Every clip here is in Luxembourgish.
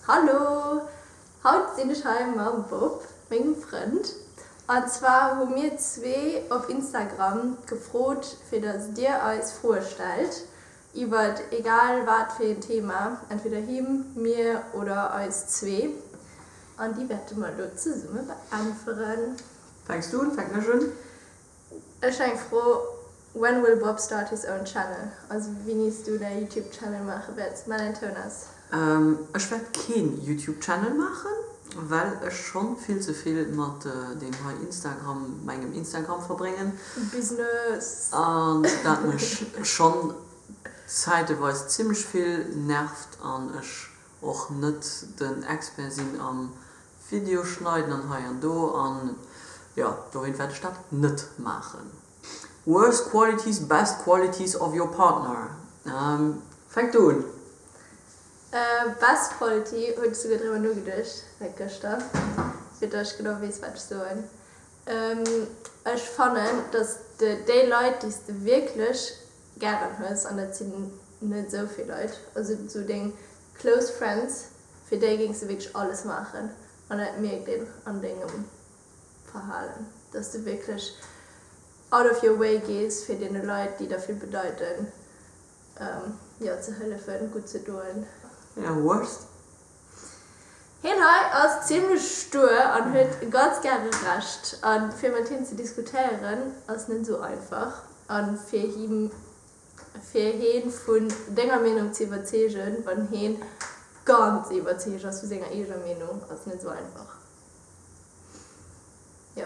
Hallo! Haut sinn ech hei mam Bob, mengem Frënd. An zwar hu mir zwee op Instagram gefrot, fir dass dir eis Froe stellt iwwert egal wat fir een Thema, entweder him, mir oder eis zwee. An déi wäerte mer elo zesumme beäntweren. Fänks du un? Fänken ech un? Ech eng Fro, When will Bob start his own channel? Also wéinies du däi Youtube Channel maache wäerts? Mell en Toun aus. Ech wäert keen Youtube Channel maachen, well ech schonn vill ze vill mat deem hei Instagram, mengem Instagram verbréngen. Business. An dat mech schonn zäiteweis zimlech vill nervt an ech och net den Expert sinn am Video schneiden an hei an do an jo dohin wäert ech dat net maachen. Worst qualities, best qualities of your partner, fänk du un. Best quality, hunn ech souguer driwwer nogeduecht säit gëschter fir datt ech genau weess wat ech soen. Ech fannen datt de déi Leit déi s de wierklech gären hues, an dat sinn net esou vill Leit, also sou deng close friends, fir déi géings de wierklech alles maachen, an dat mierkt een an dengem Verhalen, dass de wierklech out of your way gees fir deene Leit, déi der vill bedeiten, jo, ze hëllefen, gutt ze doen. Your worst? Hien hei ass zimlech stuer an huet ganz gäre Recht. A fir mat him ze diskutéieren ass net esou einfach. A fir him, fir heen vun denger Meenung ze iwwerzeegen, wann heen ganz iwwerzeegt ass vu senger eeger Meenung, ass net esou einfach. Jo.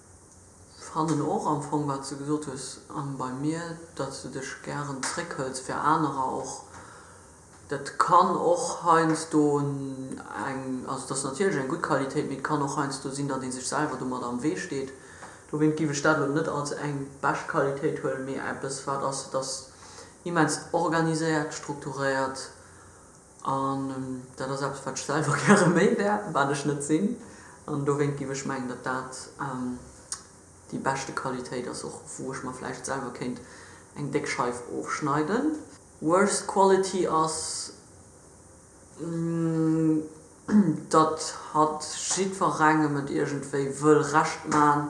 Ech fannen och am Fong, wat s de gesot hues, an bei mir, datt s de dech gären zréckhëls fir anerer och. Dat kann och heiansdo eng, also dat ass natierlech eng gutt Qualitéit, mee et kann och heiansdo sinn, datt ee sech selwer domadder am Wee steet. Dowéint géif ech dat elo net als eng bescht Qualitéit huelen, mee eppes, wat ass, et ass immens organiséiert, strukturéiert. An dat ass eppes, wat ech selwer gäre méi wär, wat ech net sinn. An dowéint géif ech mengen, datt dat déi beschte Qualitéit ass, och wou ech mer vläicht selwer kéint eng déck Scheif ofschneiden. Worst quality ass. datt hatt jiddwerengem et iergendwéi wëll Recht maachen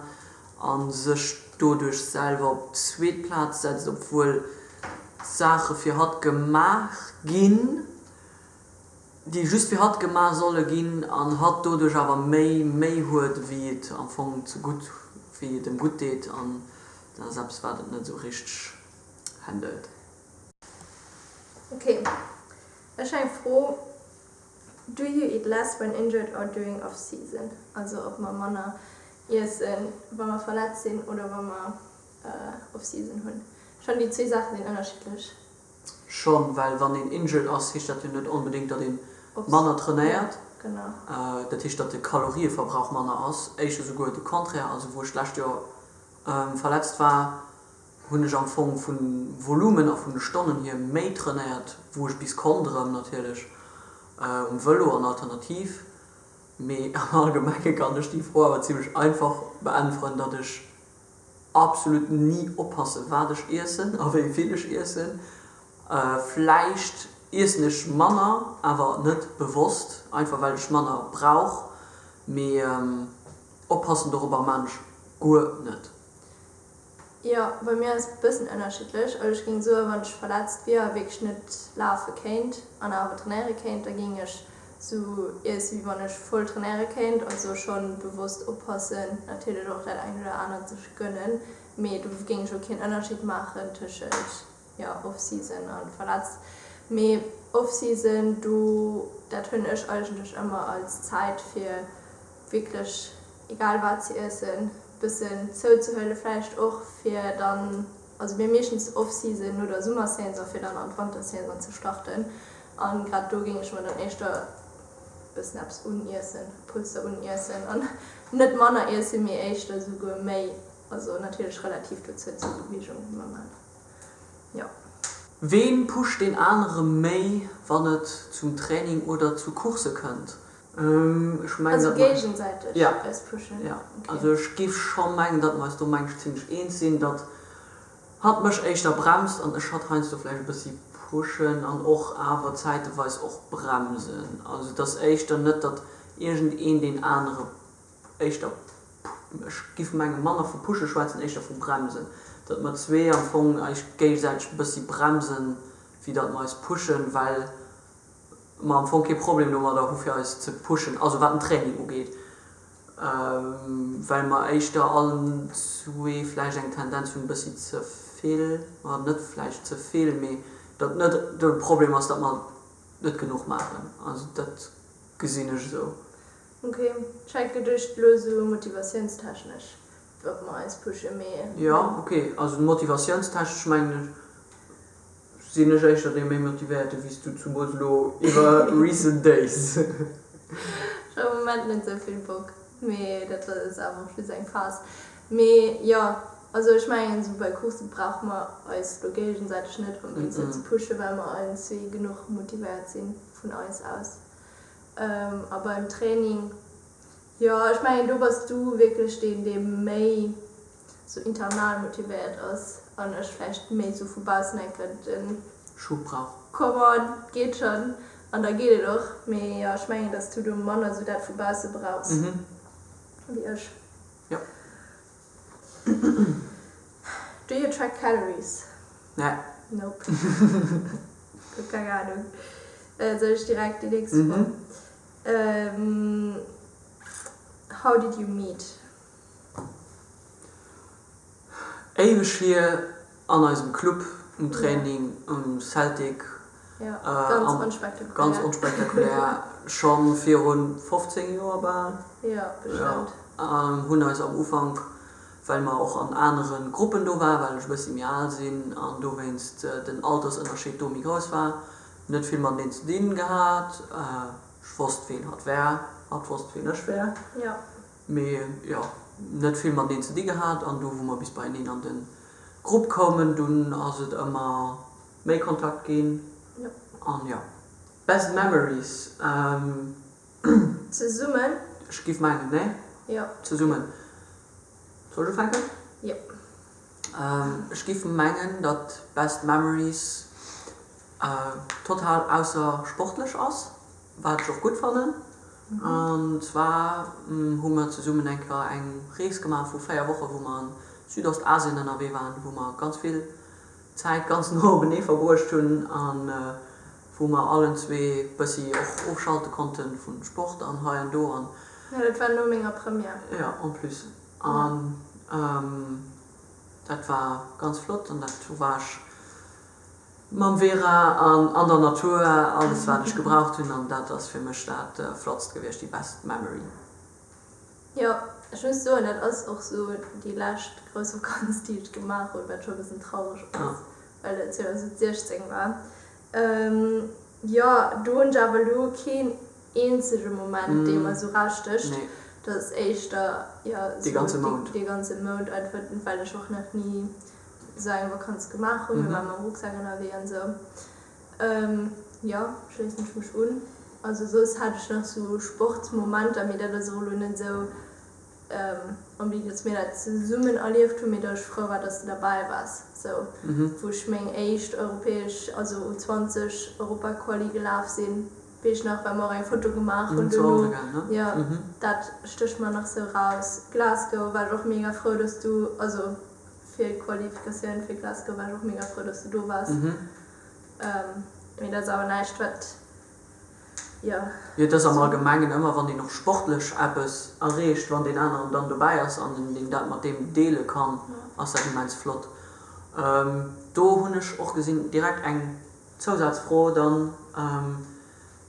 a sech doduerch selwer op d'zweet Plaz setzt, obwuel Saache fir hatt gemaach ginn, déi just fir hatt gemaach solle ginn, an hatt doduerch awer méi Méi huet, wéi et am Fong zegutt, wéi et em gutt deet, an dat ass eppes, wat et net esou richteg handelt. Ok, ech eng Fro. Do you eat less when injured or during off season? Also ob mer manner iessen wa mer verletzt sinn oder wa mer off season hunn. Ech fannen déi zwee Saachen sinn ënnerschiddlech. Schonn, well wann een injured ass, heescht dat jo net onbedéngt, datt ee manner trainéiert. Dat heescht, datt de Kalorieverbrauch manner ass. Éischer souguer de Contraire, also wou ech d'lescht Joer verletzt war, hunn ech am Fong vun Volumen a vun de Stonnen hier méi trainéiert wou ech bis konnt erem natierlech um Velo an alternativ, mee am allgemengen kann ech déi Fro awer zimlech einfach beäntweren datt ech absolut ni oppassen wat ech iessen a wéi vill ech iessen. Vläicht iessen ech manner awer net bewosst einfach well ech manner brauch, mee oppassen dorobber man ech guer net. Jo, bei mir ass et bëssen ënnerschiddlech. Also ech géing soen, wann ech verletzt wier a wierklech net lafe kéint an awer trainéiere kéint, da géing ech sou iesse wéi wann ech voll trainéiere kéint. Also schonn bewosst oppassen, natierlech och dat engt oder anert sech gënnen, mee do géing ech och keen Ënnerscheed maachen tëschent Jo, Off-Season an verletzt. Mee Off-Season, do, dat hunn ech eigentlech ëmmer als Zäit fir wierklech egal wat ze iessen, bëssen zouzehuele vläicht och fir dann, also mir meeschtens Off-Season no der Summersaison fir dann an d'Wantersaison ze starten. An grad do géing ech mer dann éischter bëssen eppes uniessen, e Pulster uniessen an net manner iessen, mee éischter esouguer méi, also natierlech relativ dozou zur Beweegung, normal. jo. Ween pusht deen anere méi wann et zum Training oder zu Course kënnt? Ech mengen Also dat mer, géigensäiteg ja, eis pushen, ja, also okay. ech giff scho mengen dat mer eis do mensch zimmlech eens sinn, dat hatt mech éischter bremst an ech hatt heiansdo vläicht e bëssi pushen an och awer zäiteweis och bremsen, also et ass éischter net dat iergendeen deen anere éischter, ech giff mengen, manner vu pushen schwätzen, éischter vu bremsen, datt mer zwee am Fong eis géigesäiteg e bëssi bremsen, wéi datt mer eis pushen, well mer am Fong kee Problem domadder hu fir eis ze pushen, also wat den Training ugeet, well mer éischter allen zwee vläicht eng Tendenz hunn e bëssi ze vill, oder net vläicht ze vill, mee datt net de Problem ass, datt mer net genuch maachen. Also dat gesinn ech esou. Ok, scheit geduecht lo sou motivatiounstechnesch ob mer eis pushen, mee Jo, bon. Ok, also motivatiounstechnesch mengen ech sinn ech éischter dee méi motivéierte wéi s du, zumools lo iwwer recent days. Ech hu am Moment net sou vill Bock, mee dat ass awer och just eng Phase. Mee jo, also ech mengen sou bei Course brauche mer eis lo géigesäiteg net onbedingt sou ze pushen, well mer allen zwee genuch motivéiert si vun eis aus. A beim Training, jo ech mengen do bass du wierklech deen dee méi sou internal motivéiert ass an ech vläicht méi sou vu baussen enke den Schub brauch. Comment, geet schonn an da geet et och. Mee jo ech mengen datt s du do manner sou dat vu bausse brauchs wéi ech. Do you track calories? Nee. Nope. Gutt, keng Ahnung. Soll ech direkt déi nächst Fro? Mhm. How did you meet? Éiweg hier. An eisem Club, um Training, um Celtic, ganz onspektakulär, scho virun 15 Joer bal, hunn eis am Ufank, well mer och an anere Gruppen do waren, well ech e bëssi méi al sinn an dowéinst den Altersënnerscheed do méi grouss war, net vill mateneen ze dinn gehat. Ech wosst, ween hatt war, hatt wosst, ween ech war. Mee jo, net vill mateneen ze di gehat an do wou mer bis beieneen an de Grupp koumen, dunn ass et ëmmer méi Kontakt ginn an jo. Best memories? Zesummen? Ech giff mengen, nee? Jo. Zesummen? Soll ech ufänken? Jo. Ech giff mengen dat best memories total aussersportlech ass. Wat ech och gutt fannen. An zwar hu mer zesummen eng Kéier eng Rees gemaach vu 4 Woche wou mer an Südostasien ënnerwee waren, wou mer ganz vill Zäit ganz no openee verbruecht hunn a wou mer allen zwee bëssi och ofschalte konnte vun Sport an hei an do an. Jo, dat war no menger Première. Jo, en plus. An dat war ganz flott an dat hu war ech. Mam Vera an an der Natur, alles wat ech gebraucht hunn an dat ass fir mech dat flottst gewiescht, déi best Memory. Jo, ech muss soen, dat ass och sou déi lescht grouss Vakanz déi ech gemaach hunn, wat scho e bëssen traureg ass, well et 2016 war. Jo, do hunn ech awer elo keen eenzege Moment dee mer sou rausstécht, dat ass éischter, jo, sou dee ganze Mount einfach, well ech och nach ni. esou eng Vakanz gemaach hunn. Mir ware mam Rucksak ënnerwee an esou. Jo, schléissen ech mech un. Also soss hat ech nach esou Sportsmomenter, mee dat ass och elo net esou am Bild, datt mir dat zesummen erlieft hunn, mee datt ech frou war, datt s de derbäi waars, esou wou ech meng éischt europäesch, also U20 Europaquali gelaf sinn, wéi ech nach war, mir och eng Foto gemaach hunn duerno. Jo, dat stécht mer nach esou raus. Glasgow war ech och mega frou, datt s du, also Fir Qualifikatioun fir Glasgow war ech och mega frou, dass du do waars. Mee dat ass awer näischt, wat, jo. Jo, et ass am Allgemengen ëmmer, wann een och sportlech eppes erreecht, wann deen aneren dann dobäi ass an een dat mat deem deele kann, ass dat immens flott. Do hunn ech och gesinn, direkt eng Zousazfro dann,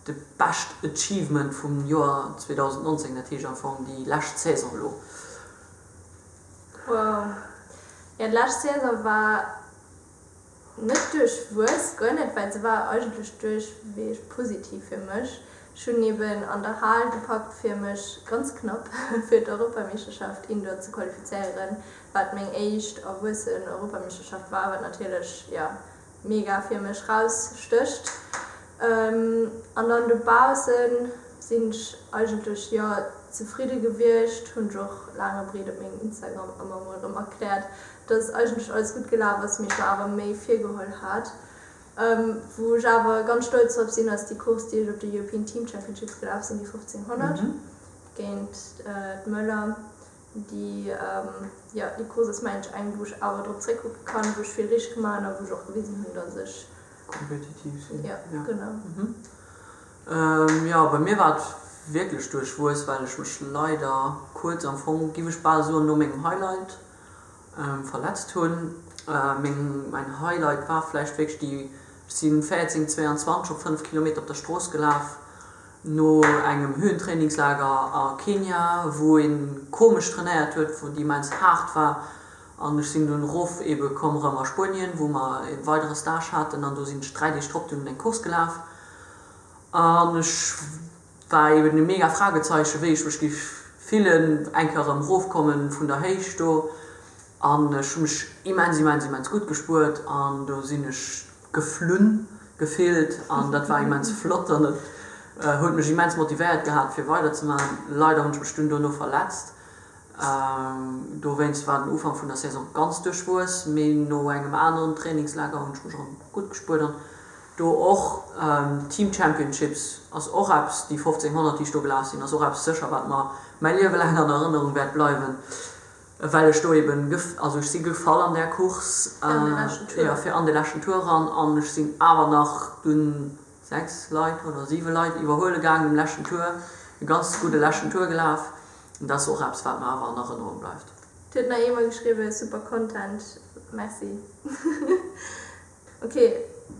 de Best Achievement vum Joer 2019, dat heescht am Fong déi lescht Saison elo. Wow. Jo, d'lescht Saison war net duerchwuess, guer net, well se war eigentlech duerchweeg positiv fir mech. Ech hunn eben an der Hal gepackt fir mech ganz knapp fir d'Europameeschterschaft Indoor ze qualifizéieren, wat meng éischt erwuessen Europameeschterschaft war, wat natierlech, jo, mega fir mech raus stecht an dann dobaussen sin ech eigentlech jo zefridde gewiecht, hun ech och laang a breed op mengem Instagram emmer mol erem erklärt dass eigentlech alles gudd gelaaf ass mee ech mer awer méi virgeholl haat. Wou ech awer ganz stolz drop sin ass déi Course déi ech op de European Team Championships gelaaf sin, déi 1500 géint d'Möller. déi jo déi Causes Mensch eng, wou ech awer drop zréckkucke kann, wou ech vill richteg gemaach hunn a wou ech och gewisen hunn, datt ech. Kompetitiv sinn. Jo, genau. Jo, bei mir war et wierklech duerchwuess, well ech mech leider kuerz, am Fong giff ech bal soen no mengem Highlight, verletzt hun. Meng mein Highlight war vläicht wierklech déi, ech si 14, 22 op 5 Kilometer op der Strooss gelaf no engem Höhentrainingslager a Kenia wou een komesch trainéiert huet, wou et immens haart war an ech sin dunn rof ebe komm rëm a Spuenien wou mer e weidere Stage haten an do sin ech 3 Deeg drop dunn eng Course gelaf an ech War eben e mega Fragezeichen wéi ech mech giff fillen eng Kéier erëm rofkommen vun der Héicht do an ech hu mech immens immens immens gutt gespuert an do sinn ech geflunn gefillt an dat war immens flott an et huet mech immens motivéiert gehat fir weider ze man. Leider hunn ech mech dunn dono verletzt dowéinst war den Ufank vun der Saison ganz duerchwuess mee no engem aneren Trainingslager hunn ech mech erëm gutt gespuert an Do och Team Championships ass och eppes, déi 1500 déi ech do gelaf sinn ass och eppes sécher wat mer mäi Liewe laang an Erënnerung wäert bleiwen, well ech do eben, also ech si gefall an där Course, jo fir an de leschten Tour eran an ech sinn awer nach dunn 6 Leit oder 7 Leit iwwerhuele gaangen um leschten Tour, e ganz gudde leschten Tour gelaf an dat ass och eppes wat mer awer an Erënnerung bleift. Dir hutt nach eemol geschriwwen, super Content, merci. Ok,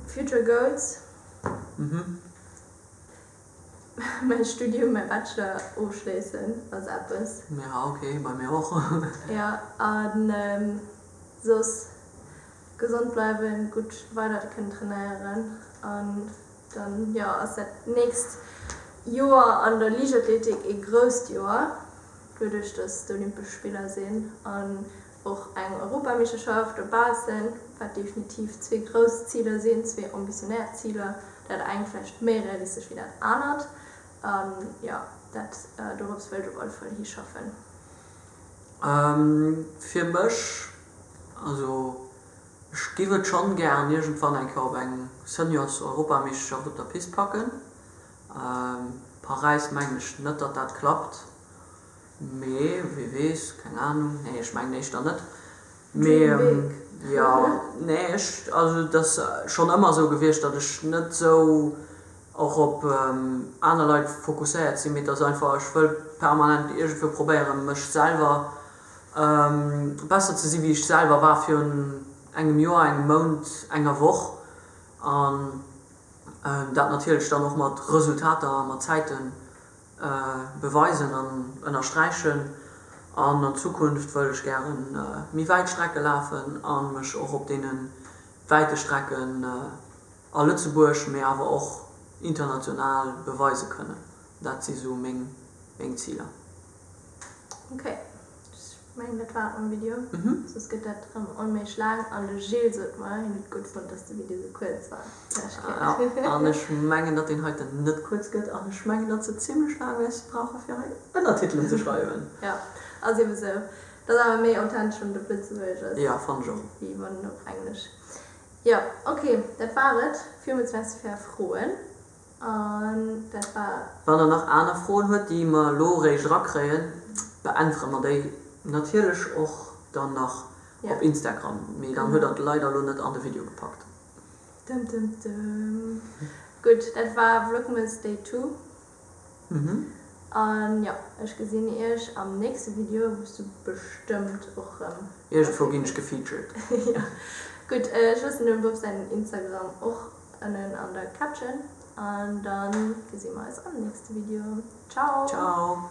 future goals, mäi Studium, mäi Bachelor ofschléissen ass eppes. Ja ok, bei mir och. Ja, a soss gesond bleiwen, gutt weider kënnen trainéieren an dann jo ass dat nächst Joer an der Liichtathletik ee grousst Joer, duerduerch datt d'Olympesch Spiller sinn an Och eng Europameeschterschaft op Baassel, wat definitiv zwee grouss Ziler sinn, zwee ambitionär Ziler, dat engt vläicht méi realistesch wéi dat anert. A jo, dat dorops wëll ech op alle Fall hischaffen. Fir mech, also ech giff et schonn gären iergendwann eng Kéier op eng Seniors-Europameeschterschaft op der Pist packen. Paräis mengen ech net, datt dat klappt. Mee wie weess, keng Ahnung. Nee ech mengen éischter net. Mee jo, nee ech, also et ass schonn ëmmer esou gewiescht, datt ech net esou och op aner Leit fokusséiert sinn, mee et ass einfach, ech wëll permanent iergendwou probéieren mech selwer besser ze sinn wéi ech selwer war virun engem Joer, engem Mount, enger Woch an dat natierlech dann och mat Resultater a mat Zäiten beweisen an ënnersträichen an an Zukunft wëll ech gäre méi wäit Strecke lafen a mech och op deene wäite Strecken a Lëtzebuerg, mee awer och international beweise kënnen. Dat si sou meng Ziler. Ech mengen dat war et mam Video, soss gëtt dat rëm onméiglech laang an de Gilles sot mer, hien huet gutt fonnt, datt de Video sou kuerz war d'lescht Kéier. An ech mengen, datt deen heiten net kuerz gëtt an ech mengen, datt se zimlech laang wäerte brauche fir hei Ënnertitelen ze schreiwen. Jo, ass ebe sou. Dat ass awer méi authentesch wann et op Lëtzebuergesch ass. Jo, fannen ech och. Wéi wann en op Englesch. Jo, ok, dat war et. Villmools Merci fir är Froen. An dat war. Wann der nach aner Froen huet, déi mer elo réischt erakréien, beäntwere mer déi natierlech och dann nach op Instagram. Mee dann huet der et leider elo net an de Video gepackt. Dëm dëm dëm. Gutt, dat war Vlogmas Day Two. An jo, ech gesinn iech am nächste Video, wou s du bestëmmt och rëm ervir kënns. Iergendwou ginn ech gefeatured. Jo. Gutt, ech loossen dem Bob säin Instagram och. ënnen an der Caption an dann gesi mer eis am nächste Video. Ciao! Ciao!